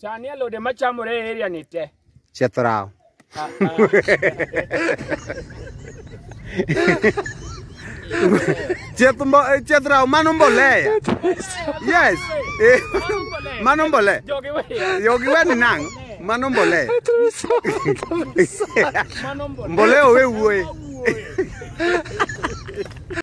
Sani alode machamore e area ni te. Chethrao. Ah, ah. Chethrao mano mbolea. Yes. Eh, mano mbolea. Jogi wewe. Jogi wewe ni nang. Mano mbolea. Mbolea wewe.